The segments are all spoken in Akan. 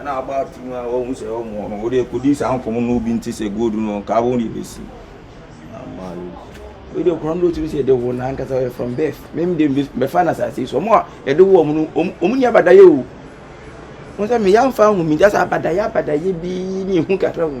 Ɛna aba afi mu a wɔhu sɛ wɔn no wɔde akodi saa nkɔmɔ no bi nti sɛ gold no nka wɔn de besi ama yi. Wɔde nkɔmɔ no tumi sɛ yɛde wɔn ankasa yɛ from birth. Mem de bɛfa na asase so wɔn a yɛde wɔn no wɔn wɔn nyɛ abadayɛ o. Wɔn sɛ meya nfa ho mi gya sɛ abadayɛ abadayɛ bi ne ehu kakra ho.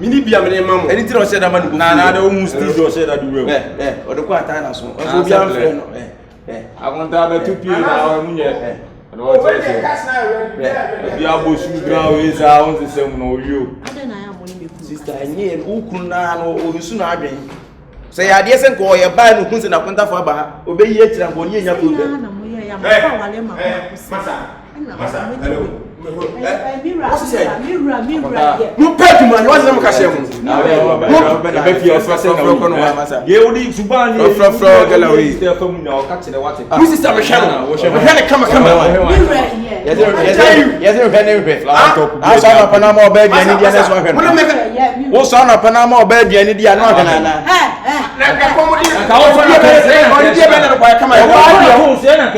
mini bi a mene ma mo ɛne ti na ɔhyɛ da ma ne na na ɔmo mu sti so ɔhyɛ da de wura mu ɛ ɛ ɔde kɔ atan na so ɔsɛ obi anfrɛ no ɛ ɛ akonta bɛtu pie na ɔmo nyɛ ɛ ɔno ɔte ɔhyɛ ɛbi abɔ su gra wei saa ɔmo sesɛ mu na ɔyɛ o sista ɛnyɛ okunu naa no ɔnsu na adwen. Sɛ yɛ adeɛ sɛ nka ɔyɛ baa no hu sɛ nakontafo aba ha ɔbɛyi akyira nka ɔne anya problem. mopɛ adwuma nyɛ wasɛ moka hyɛ mofrɔfrɔ galawi Wo sista mehwɛ no. Mehwɛ no kama kama. Yɛde nhwɛ ne nhwɛ. Asɔ anɔpa na ama ɔbɛ aduane di anɛ so ahwɛ no. Wosɔ anɔpa na ama ɔbɛ aduane di anɛ ɔhwɛ no ana.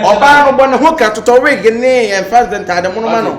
Ɔbaa no bɔ ne ho ka totɔ wig ne ɛmfa ntaade mono ma no.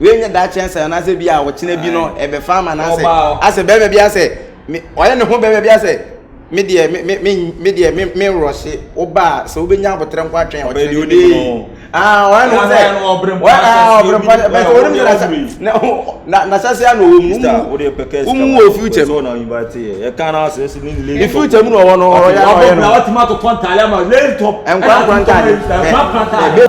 wei nyɛ daakye ansa anaasɛ bi a ɔkyena bi no ɛbɛfa ama no asɛ asɛ bɛrima bi asɛ ɔyɛ ne ho bɛrima bi asɛ me deɛ me me me deɛ me me rɔhye wobaa sɛ wobɛnya abotrɛ nko atwɛn ɔkyena bi de ah ɔyɛ ne ho sɛ ɔbrɛ mpa bɛ sɛ wɔde mu na na na sase ano wɔ mu mu mu wɔ future mu ne future mu na ɔwɔ no ɔyɛ ɔyɛ no nkwa nkwa ntaade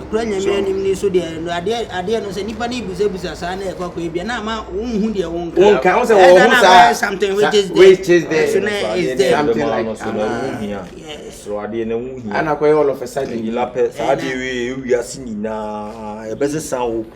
Ɛkura Nyame anim no nso deɛ no adeɛ adeɛ no sɛ nipa ne busabusa saa na ɛkɔ akɔ ebia na ama wonhu deɛ wonka. Wonka wosɛ wɔn ho saa. Something which is there. Which is there. So na is there. Something like that. So na ɛho hia. So adeɛ na ɛho hia. Ana kɔyɛ all of a sudden. Ɛyi lapɛ saa adeɛ wei ewia si nyinaa ɛbɛsesa hope.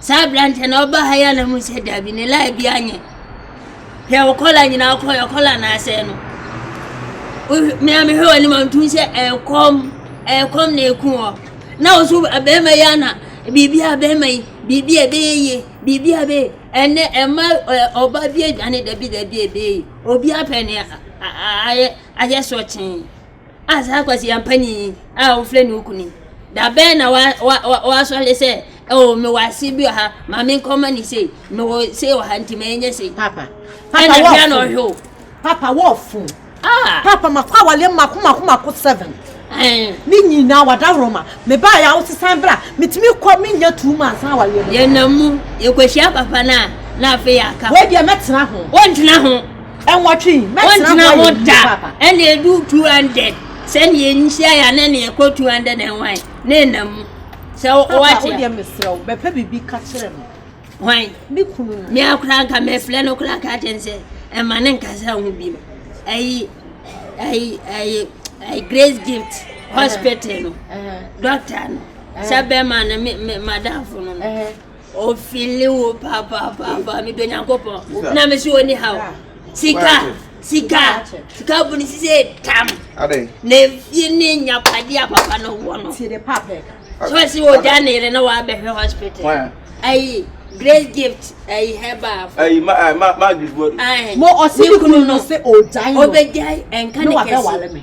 Saa aberanteɛ no ɔba ha yi a na mu sɛ dabi ne line bi anyɛ hwɛ wo kɔla nyinaa wokɔ yɛ kɔla na asɛe no mea mehwɛ w'anim a ntum sɛ ɛkɔm ɛkɔm na ɛku hɔ na wo so bɛrima yi ana biribi a bɛrima yi biribi a ɛbɛyɛ yie biribi a ɛbɛyɛ ɛnɛ ɛma ɔba bi adwane dabi dabi ɛbɛyɛ yie obi apɛ ne ayɛ ayɛ sɔkyee A saa kwasia panin yi a wɔfrɛ no Ukuni, da bɛn na wa, wa, wa, wasɔre sɛ, oh, mewɔ ase bi wɔ ha, ma menkɔma ne sei, mewɔ sei wɔ ha, nti ma ɛnyɛ sei. Papa, papa wɔɔfo. na ɔhwɛ o. Papa wɔɔfo. Ah. Papa makɔ awaleɛ mako mako mako seven. Eh. Ne nyinaa wadaworo ma. Mebaa yɛ awosesan bra, metumi kɔ menya two months na awaleɛ bɛkɔ. Yɛnam mu, yɛkɔhyia papa no a, na afei yɛaka. Wei deɛ mɛtena ho. Wɔntena ho. Nwɔtwe yi, mɛtena hɔ ayɛ yie paapa. Ɛna edu 200 sɛnea enhyia yɛ anaa nea ɛkɔ 200 ɛnwan ne nna mu sɛ wɔte a. Papa wodeɛ mesrɛ wo bɛpɛ biribi ka kyerɛ no. Hwan? Me kunu no. Me akora nka mɛfrɛ no kora ka kyerɛ no sɛ ɛma ne nkasa ho bi no. Ɛyi ɛyi ɛyi ɛyi Grace Gift hospital no. Doctor no. Sɛ bɛma no me me madamfo no. Ofili wo papaapa medɔ nyankopɔn na mese ɔni ha o sika sika sika bu ne sise tam na efie ne nyapadeɛ a papa no wɔ no so ɛsɛ ɔgya ne yere na waabɛhwɛ hospital ayi grace gift ayi herbal ayi ma ma ma agribuwa ne kunu no ɔbɛgyae ɛnka ne kɛse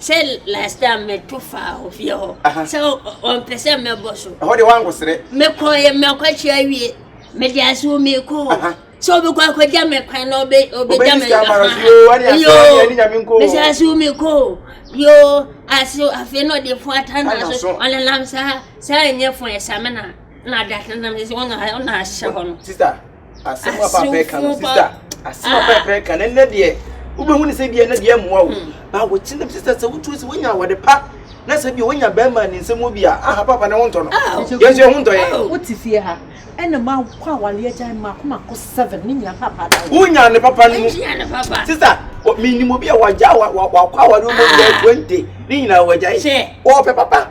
Sɛ last time meto faa hɔ fie hɔ sɛ ɔmpɛ sɛ mɛbɔ so. Ɛhɔ de wankɔsrɛ. Mekɔ yɛ mɛkɔkye awie mede ase wo meko sɛ ɔbɛkɔ akɔgya me kwan na ɔbɛgya me kwan yoo mede ase wo meko yoo ase afei na ɔde fo atana so ɔnenam saa saa nyɛ fo ɛsamena na adatena nam sɛ ɔna ahyɛ hɔ no. asɛm a papa ɛka no sista asɛm a ah. papa ɛka no ɛnɛ deɛ wobɛhu ne sɛ bia ɛnɛ deɛ mmoa wo hmm. na wokyi no sista sɛ wotuo sɛ wonya awɔde pa na sɛ bia wonya bɛrima ne nsɛm wɔ bi a aha papa ne ho ntɔ no ah. yɛnso ɛho ntɔ yɛ oh. wote fie ha ɛna ma kɔ awale agyan ma kɔ ma kɔ seven ne nyina papa da wo wonya ne papa no mu sista menim obi a wagya wakɔ awale mu bɛɛ twenty ne nyinaa wagyae wɔpɛ papa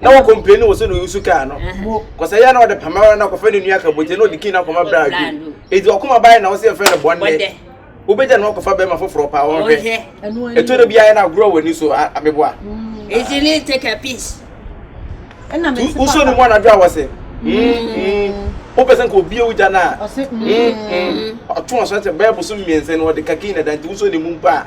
na wɔ complain wɔ sɛ na ɔyusu kaa no kɔsɛ yɛ na ɔde pamara na kɔfɛ ne nua kabote na ɔde kii na kɔma bra adwene eti ɔkoma bae na ɔsɛ yɛfɛ ne bɔnne wobɛgya na ɔkɔfa bɛrima foforɔ paa wɔn hwɛ ɛtɔ da bi ayɛ na agorɔ wɔ ani so ameboa easily take a piece ɛna mɛ wosɔ ne mu anadwo a wɔsɛ wopɛ sɛ nka obi ewu gya no a ɔtwe ɔsɔ sɛ bɛɛ bosom mmiɛnsa no ɔde kakii na da nti wosɔ ne mu mpo a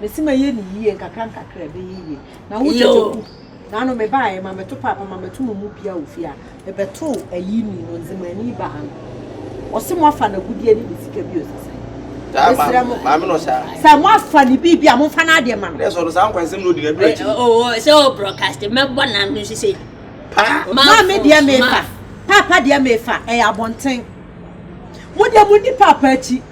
Mesi ma yɛ ne yie nkakra nkakra ɛbɛyɛ yie na wo tete ku na ano me baa yɛ ma me to paapa ma me to mo mu bia wɔ fie a me bɛ to ayi ni no nze ma ni ba ha no ɔse mo afa na gudie ne ne sika bi ɔse sɛ Mesrɛ mo sɛ mo afa ne bi bi a mo nfa na adeɛ ma no. Ɛsɛ ɔno saa nkwansɛm na odi na ɛbɛrɛ akyi. Oo sɛ o broadcast mɛbɔ na no sise. Paa. Maa mi deɛ mi fa. Paapa deɛ mi fa ɛyɛ abɔnten. Mo deɛ mo ni paapa akyi.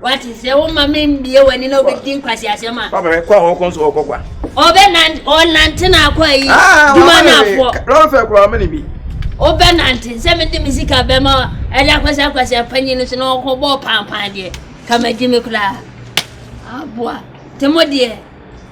Wate, sɛ woma me mmie w'ani na wobɛdi nkwaseasɛm a. Papa, kɔ a wɔkɔ nso wɔkɔ kwa. Ɔbɛnante, ɔnante na akɔ ayi, ah, duma na afoɔ. Lɔre fɛ kura ɔmɛ ne bi. Ɔbɛnante, sɛ mede me sika bɛma ɛde akɔsɛ akwasɛ panyin no so na ɔkɔ bɔɔ pampan deɛ, ka magye me koraa. Aboa, te mo deɛ.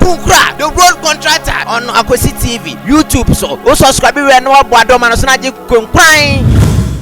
Kunkura the road contractor on Akwesi TV YouTube so. Wo subscribe wɛ na wabɔ adɔma no so na agye konkuran.